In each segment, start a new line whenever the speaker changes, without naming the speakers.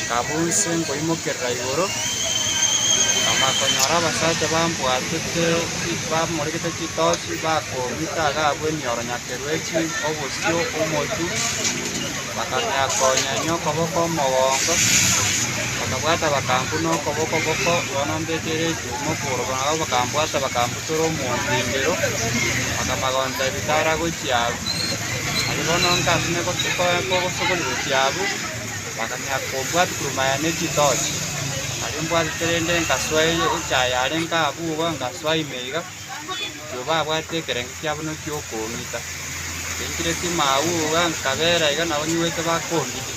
Nkaaba onsi nkoimokerera igoro, nkamanya konyora abasacha bambwatete bamorekete chitochi, bakoomita iga abwo emioro nyakeru e chifu obosio omotu, bakamia konyenya okoboko omogongo, bakabwata bakambuna okoboko boko, bono mbeteire echuuma okoboro buna abwo bakambwata bakambuna. Tore omotindiro, bakaba gontebia, Tara gochia agwo. Aye bono nkamenya kogosokori gochia agwo, bakang'ea kobwati korwa maya ne chitochi. Aria mbwatete rende nkasoa echaye yarenge abwo iga, nkasoa ime iga, naboigo babwate ekerengo kiabo naki okong'ita. Nkaikire tima agwo iga, nkabera iga nabo nyigwete bakondiria.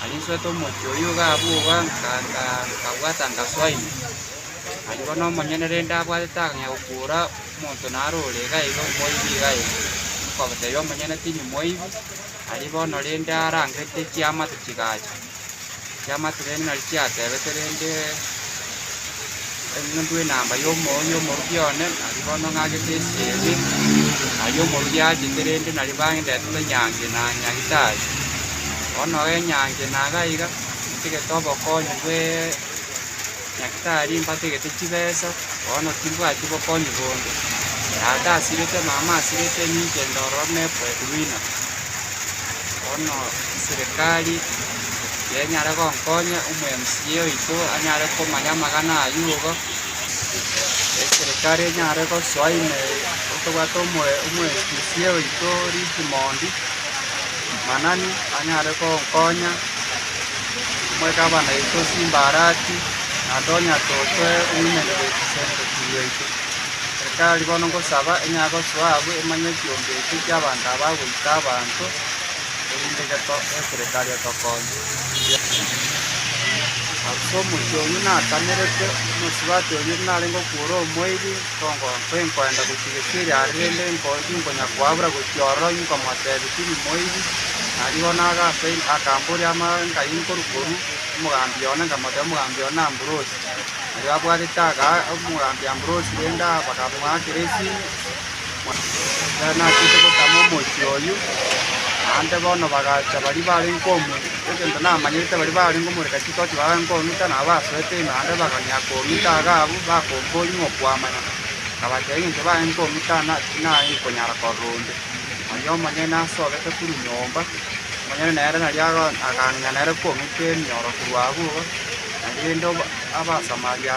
Narinsuete omochie oyio iga bwoba, nkaanga, nkabwata ngasoa ime. Aria bono omonyene rende abwatete akang'ea gokuura omonto naro ore iga iga omoibi iga iga, nkotebia omonyene tindi moibi. Aria bono rende arangete chiamate chigacha, chiamate rende nario chiatebete rende. Eng'endu enamba y'omoyo y'omoruki one nari bono ng'agete esie ime, aye omoruki achete rende nari bandetete nyangi na Nyagitari. Bono enyangi naga iga, inchegete obokonyi bwe Nyagitari mbategete chibesa, bono timbwati bokonyi bonde. Tata asirete, mama asirete, ninche ndororo ne breadwinner. Bono eserekari. kenyare gonkonya omweMCA oito anyare komanya amang'ana ayio igo, eserikari enyare gosoa ime tobwate omweMCA oito Richmond Manani anyare gonkonya, omwegabana oito Simbarati, naende onya tosoe owomen representative oito. Eserikari bono ngosaba enyare gosoa abwo emanye ekiombe ekio ki'abanto aba agoita abanto. erinde geserekari etokonye. Ase omochie oyio natamerete, omosubati oria narenge okwora omoiri, nkoenda gochia gesieri are, rende inkonya koabura gochia ororo, inkomotebi tiri moiri, nario bono agasaima, akamboria amang'ancha ayio nkorukoru, omogambi one, nkamotebia omogambi one n'Ambrosi, nario abwatete omogambi Ambrosi rende bakamoakera esini. Ekero nachete gotama omochie oyio, naende bono bagacha baria barenge komu egento namanyete baria barenge omorega chitochi barenge kong'ita nabo basoete ime naende bakang'ea kong'ita iga abwo bakomboria ng'a okwamanya, nkabatebia eng'encho barenge kong'ita na tinarenge konyara korora onde. Aria omonyene ase obeke korwa nyomba, omonyene nere naria aga akang'ina nere kong'ita emioro korwa abwo iga, naende oba abasamaria.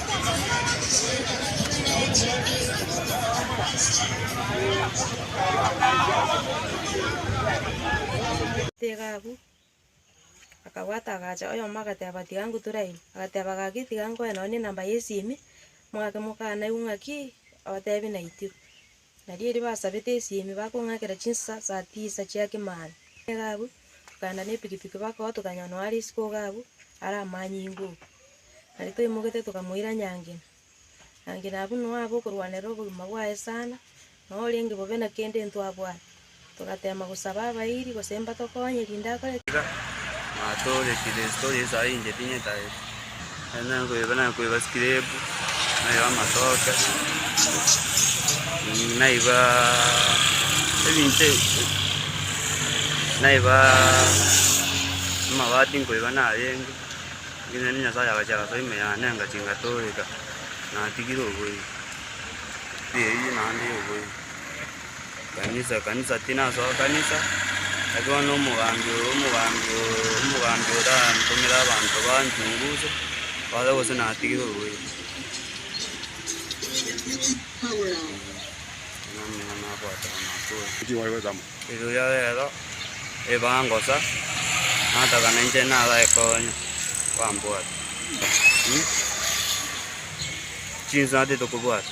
Tiga agwo. Akabwata agacha oyomo agateba, Tiga ngutore ayio. Agateba, Gaki, tiga nkoe nonye nenamba y'esimi, mwake mokana igwe ng'aki otebi naitire. Nario erio basabete esiemi bakong'akera chinsasa saa tisa chia kemani. Egaabu, tokaenda nepikipiki bakoa tokanyora nonya are isiko Ogaabu are amanyinga oo. Nario toimogete tokamoira Nyangina. Nyangina abwo noyo abe okorwanerera obogima bwaye sana, noyo orenge bobe na kende intwe abwate. Togateema gosaba abairi, gose mbatokonye, rinde akore. Iga natore
Kristo Yeso aye inche tinye taete, ere nakoeba nakoeba sikrebu, naeba amatoke, naiba ebinto ebi, naiba amabati nkoeba narenge, eri naende Nyasaye agachia agasoa ime yane engachi ngatooreka, natigire oboigo, eyio naende yoboigo. Ekanisa, ekanisa tinasoa kanisa, naki bono omogambi oo, omogambi oo, omogambi orantomere abanto banchunguze, babe gose natigire orweti. Namang'ana nabwate bono ase oyo.
Erio oria rero
ebangosa, natagana inche nabae konya, bambwate. Chinsa natete kobwata.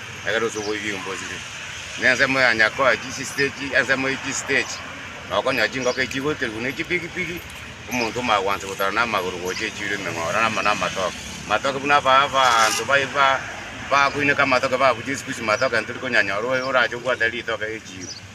Ekero ase oboibi iga mbosire na ensemo ya Nyakoa chisitechi, ensemo ye chisitechi, na okonyora chingoko echi chigoiterigwa ne chipigipigi, omonto omagwansa gotara na amagoro gocha echiiro emeng'ora na amano amatoke. Amatoke buna aba abanto ba ba bakoineka amatoke babuche esikusi matoke ntori konyanyora oyo orache obwate ritoke echiiro.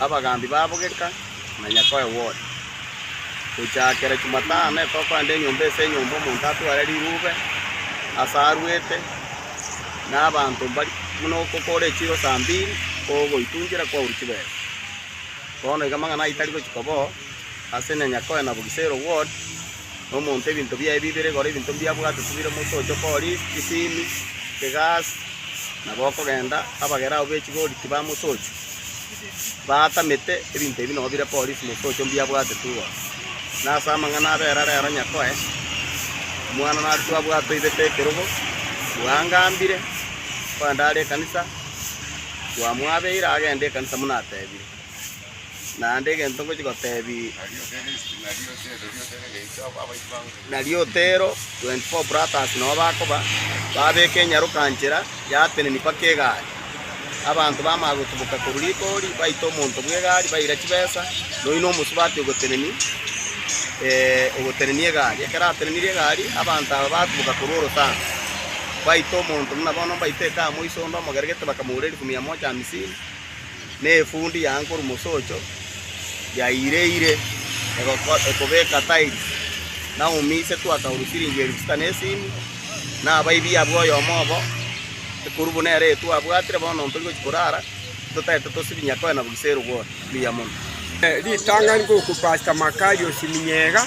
Abagaambi babo geka na nyakoe Ward. Gochaakera Chumatano etoke ande enyomba ase enyomba omonto atware rirube ase arwete, na abanto mbari buna okokora echiro saa mbiri kogoitungera kwauru chibesa. Bono iga amang'ana aye tari gochika bo ase na nyakoe na Bugisero Ward, na omonto ebinto biaye bibere igoro ebinto mbiabwate tibire moto oche okori chisimi, egasi, nabo okogenda abagere abwo bechigori tibamosochia. baatamete ebinto ebi nobo bire polisi motocho mbiabwate tugoro. Na ase amang'ana abera rero nyakoe omwana nare twabwate oibete ekerogo, bwangambire kogenda are ekanisa, bwamwabeire agende ekanisa buna atebire. Naende egento ngochi gotebi. na riotero, twenty four platters nao bakoba, babeka enyaroka-nchera yateneni mpaka egari. Abanto bamanya gotuboka korwa rigori, baita omonto bw'egari, baira chibesa, na oyio nomosubati ogoteneni eh, ogotenenia egari. Ekero atenenirie egari, abanto aba batuboka korwa orotango, baita omonto buna bono mbaite ekaa moiso onde omogere gete, bakamogora erifu mia moja hamsini. nefundi ya Ankuru Mosocho yaireire ekobeka tairi. Naomi isetwe akaurwa siringi elifu sita nesini, na abaibi abwo oyomo obo, ekuru buna ere etwe abwatire. Bono ntori gochia korara, totaete tosibinya koena bwise erogori. Mbuya mono. Ritang'ani
gokupasta makari osiminyega.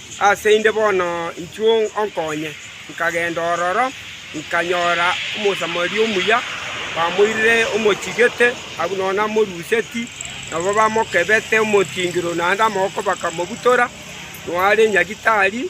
Ase inde bono inchuo onkonye. Nkagenda ororo, nkanyora Omosamaria omuya, bamoirire omochigete agwo nonya namoruseti, nabo bamokebete omotingiro naende amaboko bakamobutora, noare nyagitari.